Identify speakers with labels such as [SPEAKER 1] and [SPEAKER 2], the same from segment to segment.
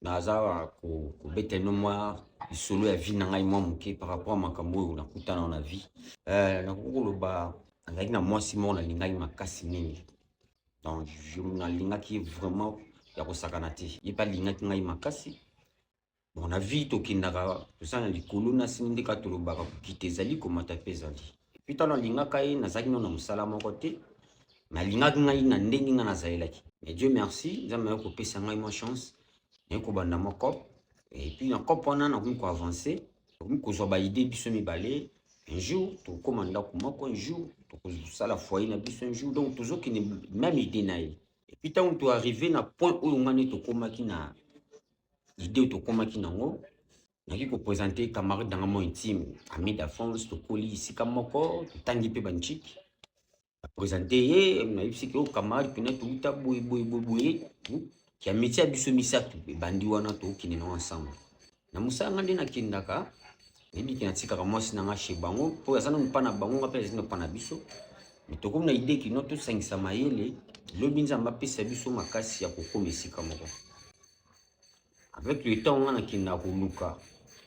[SPEAKER 1] naza kobeta ino mwa lisolo ya vie na ngai mwa moke par rapport ya makambo oyo nakutana na vie euh, nakoki koloba nazalaki na mwasi moko nalingaki makasi mingi donc nalingaki vraiment ya kosakana te ye mpe alingaki ngai makasi bon na vie tokendaka toza na likolo na sini nde kaka tolobaka kokita ezali komata mpe ezali epuis ntango nalingaka ye nazalaki nano na mosala moko te nalingaki ngai na ndenge ngai nazalelaki mais dieu merci nzambe nayo kopesa ngai mwa chance naye kobanda mwa cop epuis na cop wana nakomi koavance nakomi kozwa baide biso mibale un jour tokokoma ndako moko un jour tokozosala foyer na biso un jour donc tozokende meme ide na ye epuis ntango toarrive na point oyo ngai nde tokomaki na ide oyo tokomaki nango nali ko presenter camarade nanga mo intime ami d'enfance tokoli esika moko totangi mpe banchiki apresente ye nayebisaki o camarade pene touta boye boye boye boye ya metie ya biso misato ebandi wana tokokende nango ensemble na mosala nga nde nakendaka nayebiki natikaka mwasi na nga chez bango mpo aza na mopa na bango nga mpe azali na mopa na biso tokomi na idee kino tosangisa mayele lobi nzambe apesa biso makasi ya kokoma esika moko avec le temps nga nakenda koluka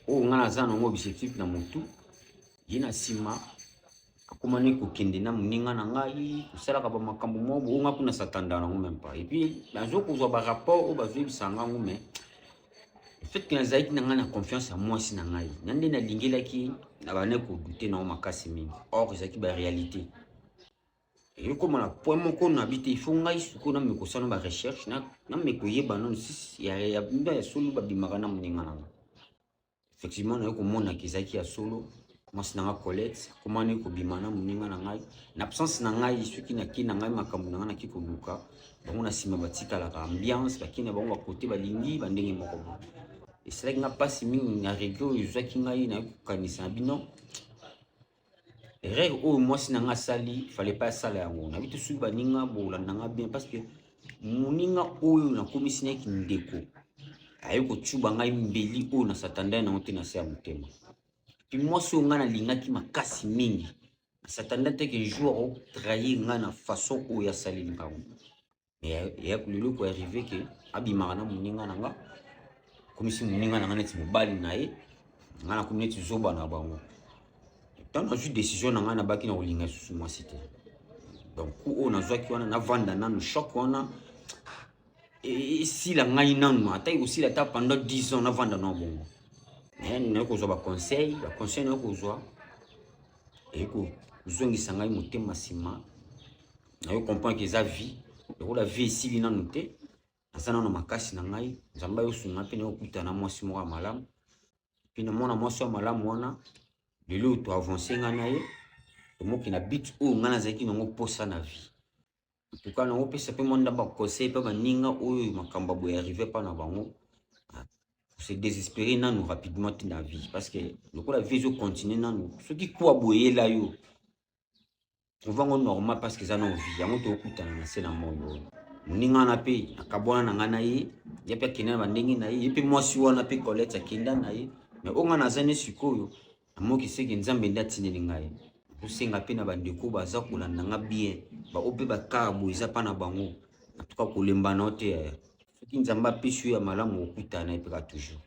[SPEAKER 1] oyo nga naza nango objectif na motu ye na nsima akomani kokende na moninga na ngai kosalaka bamakambo moko boyo nga kuna satanda nango meme pas epuis nazo kozwa barapport oyo bazoyebisa ngango mais fetke nazalaki na ngai na confiance ya mwasi na ngai na nde nalingelaki na bane kodute nango makasi mingi or ezalaki barealité ekoma na point moko na bi te il faut ngai sikoyo na meko sala ba recherche na na meko yeba nanu sisi ya ya bunda ya solo babimaka na moninga na nga effectivement naye komona kezalaki ya solo mwasi na nga colette akomani kobima na moninga na ngai na absence na ngai soki naki na ngai makambo na ngai naki koluka bango na nsima batikalaka ambiance baki na bango bakote balingi bandenge moko bo esalaki nga mpasi mingi na regret oyo ezwaki ngai naye kokanisa na bino erreur oyo mwasi na nga asali fale pa asala yango nayebi tosuki baninga bolanda nga bien parce que moninga oyo nakomisi na ye kindeko aye kocuba ngai mbeli oyo na satanda ye nango te na se ya motema mpe mwasi oyo ngai nalingaki makasi mingi na satanda te ke jour akotrahir ngai na façon oyo asaleli ngango ya kulelo ko arrive ke abimaka na moninga na nga komisi moninga na nga neti mobali na ye nga na komi neti zoba na bango ntango nazwi décision na ngai nabaki na kolinga lisusu mwasi te donc ku oyo nazwaki wana navanda nanu choc wana esila ngai nanu ata ekosila ata pendant 10 ans navanda nao bongo naye kozwa baconseil baconseil naye kozwa eye kozongisa ngai motema nsima nayo comprendre ke eza vie lokola vie esili nanu te naza nano makasi na ngai nzambe ayosunga mpe nayokutana na mwasi moko ya malamu mpe na mwana mwasi ya malamu wana lelo oyo toavance ngai na ye tomoki na bit oyo ngai nazalaki nango mposa na vie entuka nango pesa mpe mwanda baconseil mpe baninga oyo makambo ya boye arrive mpa na bango ah, se désespérer nanu rapidement te na vie parce que lokola vie ezocontinue nanu soki kuwa boyela yo trouva yango normal parce que eza na ovi yango tokutana na se na mondo oyo moninga wana mpe akabwana na ngai na ye ye mpe akenda na bandenge na ye ye mpe mwasi wana mpe colette akenda na ye mais oyo ngai naza ne sikoyo namoki seke nzambe nde atindeli ngai kosenga mpe na bandeko baza kolanda nga bien baoyo mpe bakara boye eza mpa na bango antuka kolemba na yo te yaya soki nzambe apesi yo ya malamu okutana ye mpeka toujours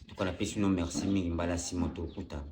[SPEAKER 1] antuka napesi no merci mingi mbala nsima tokutana